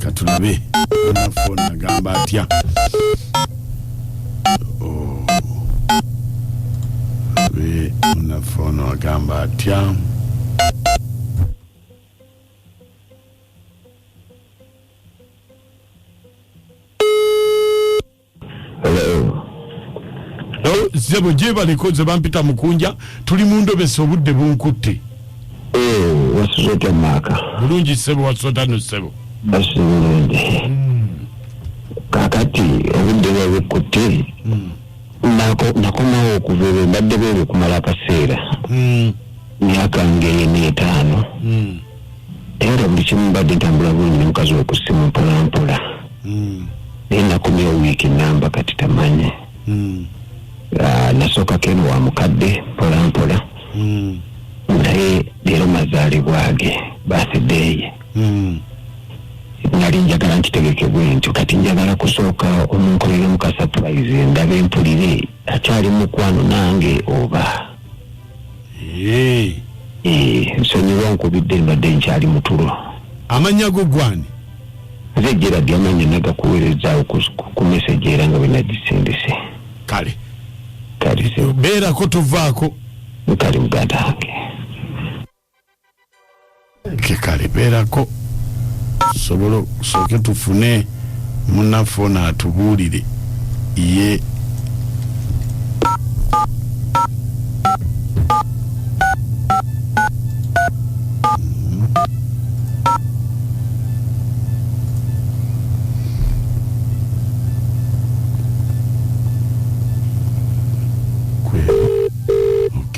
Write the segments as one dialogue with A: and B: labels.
A: katulabe anafoni agamba atya be munafono agamba atya zebo gyebaleko nze bampita mukunja tuli mundobesa obudde bunkutte
B: bulungi eh, sebo
A: wasotano sebo hmm.
B: kakati obudde bwebukkutte hmm. nakomawo okuva ebyo mbadde bwebyo kumala akaseera hmm. myaka ngeyena etaano era buli kimu mbadde ntambula bulungi nomukazi we ku ssimu mpolampola hmm. naye nakomyewo wiiki namba kati tamanyi hmm. ah, nasooka keno wa mukadde mpolampola hmm. naye leero mazaalibwa ge bathideye nali njagala nkitegekebwe ntyo kati njagala kusooka omunkolere muka surprise ndabe mpulire akyali mukwano nange oba nsonyiwa nkubidde mbadde nkyali mutulo amannya go
A: gwani nze
B: geradi amannya nagakuweerezaawo ku meseji era nga bwenagisindise
A: kale
B: beerako
A: tovaako kale muganda
B: wange
A: kekalebeerako sobola sooke tufune munaffe ono atubuulire ye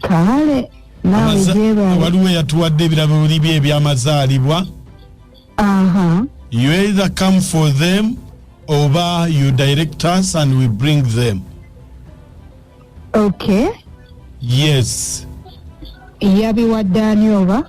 C: kale nawe gyebale waliwo yatuwadde
A: ebirabo bye ebyamazaalibwa aha you either come for them oba you direct us and we bring them
C: okay yes yabiwadde ani oba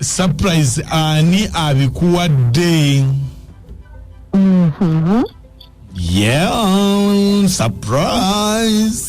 A: surprise ani abikuwadde Mhm. yeah surprise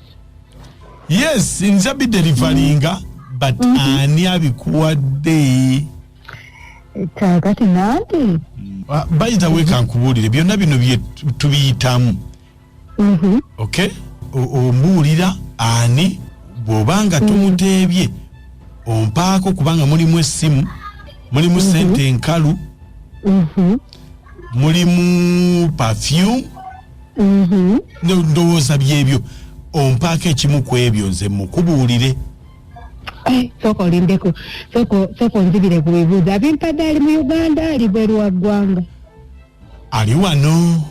A: yes nja biderivalinga but mhm. ani abikuwadde kakati nange ah, bayita wekankubuulire byonna bino bye tubiyitamu mhm. ok ombuulira ani bwoba nga mhm. tumuteebye ompaako kubanga mulimu essimu mulimu sente enkalu mulimu perfume mm-hmm. ndowooza byebyo ompaako ekimu ku ebyo nze mukubuulire
C: eh, sooka olindeko sooka onzibire ku bibuuzo abimpadde ali mu uganda ali bweru wa ggwanga ali
A: wano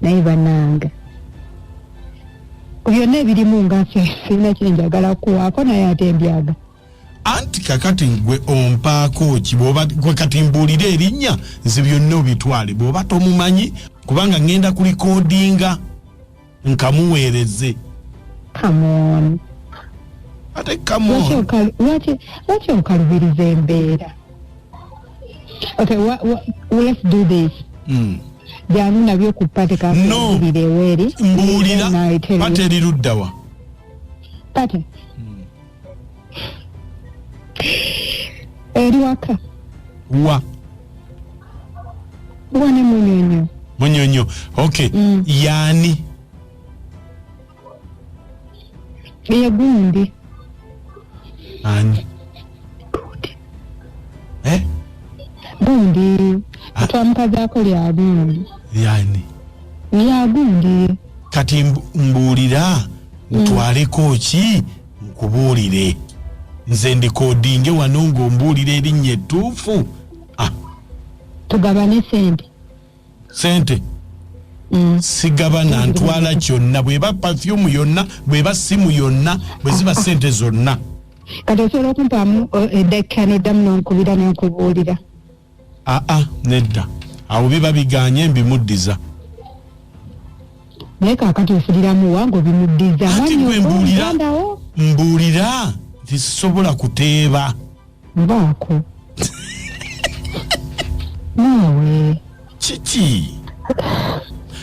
C: naye bananga byonna ebirimu nga nfe sirina kyenjagala kuwaako naye ate mbyaga anti
A: kakati gwe ompaako ki bwoba gwe kati mbuulira erinnya nze byonna obitwale bw'oba tomumanyi kubanga ŋŋenda ku likodinga nkamuweereze
C: ate
A: kamlwaki
C: okalubiriza embeera okay what, what, let's do this mm. janu nabyo ku pate kakubireweeri no. mbuulira
A: pate eriruddawa
C: pate eri waka wa wa ne munyonyo munyonyo
A: okay Mm. yani
C: ye gundi
A: ani
C: eh
A: gundi Ah. twamukazaako
C: lya gundi yani
A: lya
C: gundi kati
A: mbuulira ntwaleko mm. ki nkubuulire nze ndikodinge wano ng'ombuulira erinnya ettuufu ah. tugabane
C: sente sente
A: mm. sigabana ntwala kyonna bweba pafyumu yonna bweba simu yonna bwe ziba sente zonna kati osobola
C: okumpaamu eh, eddakika neddamu nonkubira nenkubuulira aa ah, ah,
A: nedda awo biba biganye mbimuddiza
C: naye kakati ofuliramu wange obimuddiza mwanyiombuulirawo
A: mbuulira nti sisobola kuteeba mbaako
C: naawe kiki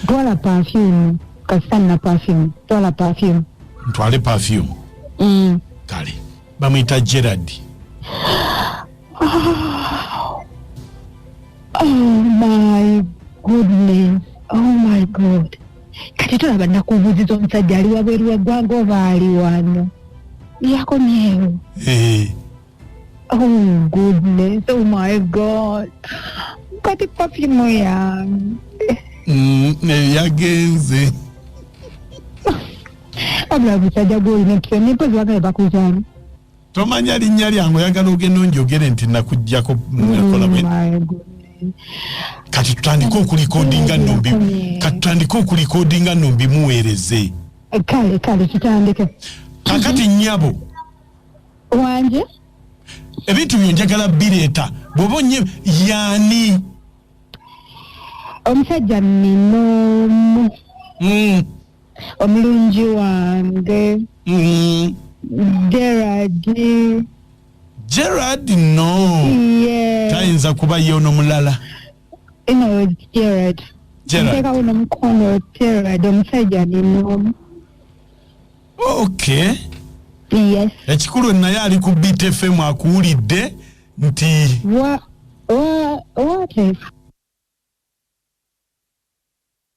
C: twala pafyumu kasita nina pafyumu twala pafyumu ntwale pafyumu
A: mm. kale bamuyita gerard
C: oh, oh my goodness oh my god kati tolaba nakubuziza omusajja ali wabweru weggwanga oba ali wano yakomyewo eh. oh goodness oh my god kati pafimu yange mm, eh,
A: yagenze
C: wabula busajja gwolina empisa nempozi bagale bakuzaala tomanya
A: linnya lyange oyagala ogenda onjogere nti nakugjako kati tutandike okulikodinga nombi kati tutandike okulikodinga nombi muweereze kale kale
C: tutandike kakati
A: nyabo
C: wanje
A: ebintu byo njagala bireeta bwoba onye yaani
C: omusajja ninomu mm. omulungi wange Mm, gerard gerard no
A: ye tayinza
C: kuba ye ono
A: mulala ino
C: gerard gerard ntekawo nomukono gerard omusajja ninomu
A: okay
C: yes ekikulu naye
A: ali ku btfm akuwulidde nti wa
C: wa wate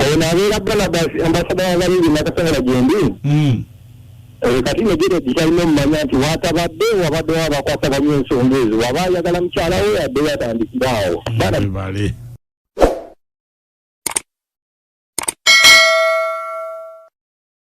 D: awo nabeera balabas ambasada wabalindi nakasobola gyendi hmm. eh, kati negere gitalina omumanya nti watabadde wabadde wabakwasa bali ensonga ezo waba ayagala mukyala we
A: yadde
D: yatandikibwawo